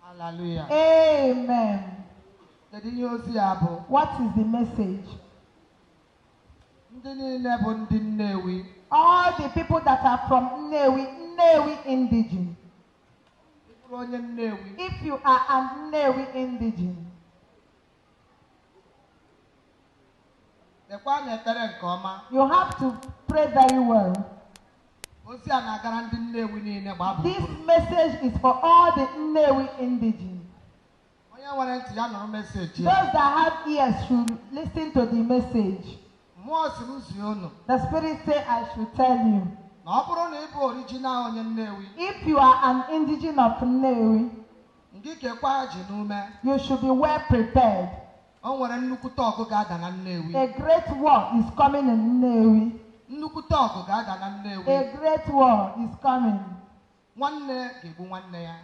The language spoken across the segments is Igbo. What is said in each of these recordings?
Hallelujah. Amen. Kedu ihe ozi ya bụ? What is the message? Ndị niile bụ ndị Nnewi. All the people that are from Nnewi, Nnewi indigene. Ị bụrụ onye Nnewi. If you are an Nnewi indigene. Kpekwa na ekpere nke ọma. You have to pray very well. Ozi a na-agara ndị Nnewi niile gbaa gburugburu. This message is for all the Nnewi indigene. Onye nwere ntị ya nụrụ message a. Those that have ears should listen to the message. Mmụọ si m zie unu The Spirit say I should tell you. na ọ bụrụ na ị bụ original onye Nnewi If you are an indigene of Nnewi, Ngị kekwaa ajị n'ume. You should be well prepared. O nwere nnukwute ọgụ ga-ada na Nnewi. A great war is coming in Nnewi. Nnukwute ọgụ ga-ada na Nnewi. A great war is coming. Nwanne ga-egbu nwanne ya.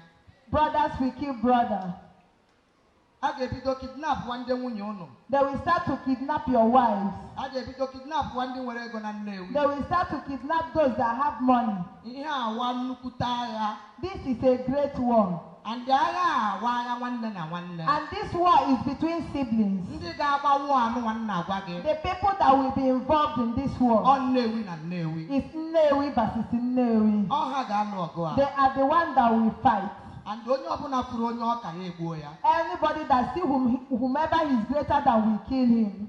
Brothers will kill brother. A ga-ebido kidnap wa ndị nwunye unu. They will start to kidnap your wives. A ga-ebido kidnap wa ndị nwere ego na Nnewi. They will start to kidnap those that have money. Ihe a wa nnukwute agha. This is a great war. And agha a wa agha nwanne na nwanne. And this war is between siblings. Ndị ga-agba war anụnwa m na-agwa gị. The people that will be involved in this war. Ọ Nnewi na Nnewi. Is Nnewi versus Nnewi. Ọ ha ga-alụ ọgụ a. They are the one that will fight. And onye ọbụla fụrụ onye ọ ka ya egbuo ya. Anybody that see whom, whomever he is greater than will kill him.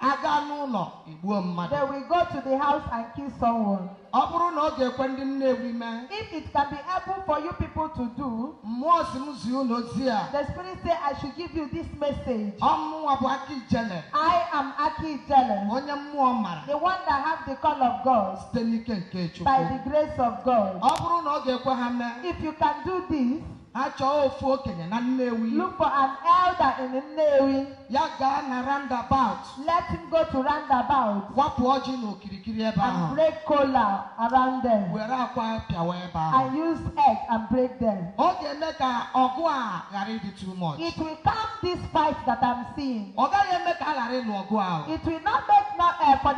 A gaa n'ụlọ egbuo mmadụ. They will go to the house and kill someone. Ọ bụrụ na ọ ga-ekwe ndị Nnewi mee. If it can be able for you people to do. Mmụọ si m zi unu ozi a. The spirit say I should give you this message. Ọ mụwa bụ Aki Ijele. I am Aki Ijele. Onye mmụọ mara. The one that have the call of God. site n'ike nke Chukwu by the grace of God. ọ bụrụ na ọ ga-ekwe ha mee If you can do this, ha chọọ ofu okenye na Nnewi look for an elder in Nnewi. ya gaa na roundabout Let him go to roundabout wapụ ọjị na okirikiri ebe ahụ and break kola around them were akwa pịawa ebe ahụ and use egg and break them. ọ ga-eme ka ọgụ a ghara ịdị too much It will calm this fight that I'm seeing. ọ gaghị eme ka a ghara ịlụ ọgụ ahụ It will not make no, uh, for the